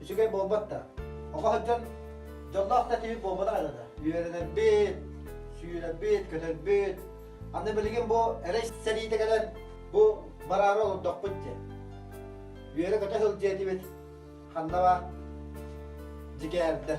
Үчүгэй буолбат да. Оҕо сылдьан дьоллоох да киһи буолбатах эрэ да. Үөрэнэрбит, сүүрэрбит, көтөрбүт. Аны билигин бу эрэй сэриитэ кэлэн бу бараары олордохпут диэн. Үөрэ-көтө сылдьыа этибит. Ханна баа? Дьигээбдэр.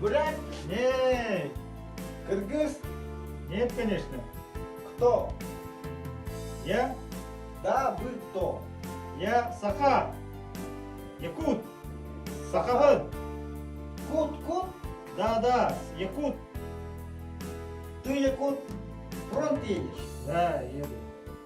Бурят, не, кыргыз, нет, конечно, кто? Я, да, вы кто? Я саха, якут, сахабын. Кут-кут? Да-да, якут. Ты якут, фронт едешь? Да, еду.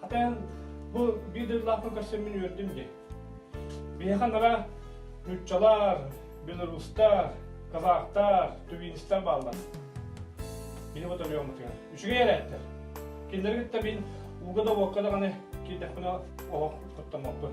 Хата эн бу биир дойдулаахпын көрсөн мин үөрдүм дии. Биһиэхэ нара ньуччалар, белорустар, казахтар, тувинистар бааллар. Бини бу төлөйөммүтүгэр. Үшүгэй эрэттер. Кинилери кытта мин ууга да уокка да каны киирдэхпинэ оһох тоттоммоппун.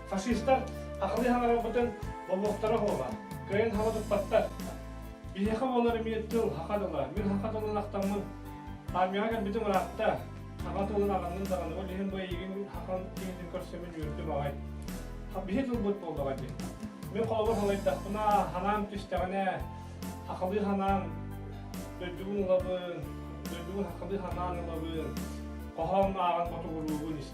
Фашистар ахылыйан аҕалбытын болуоктара уһуома, кыайан хаба туппаттар. Биһиэхэ буолар эмиэ тыл хаха дыла, мир хаха тылынан ахтаммын, армияҕа кэлбитим ыраатта. Хаха тылын аҕаннын даҕаны ол иһин бу эйигин хахан киһитин көрсөммүн үөрдүм аҕай. Биһи тылбыт буоллаҕа дии. Мин холобур салайдахпына, ханаан түстэҕинэ, ахылыы ханаан дойдубун ылабын, дойдубун хахылыы ханаан ылабын, хоһоон ааҕан ботугуруубун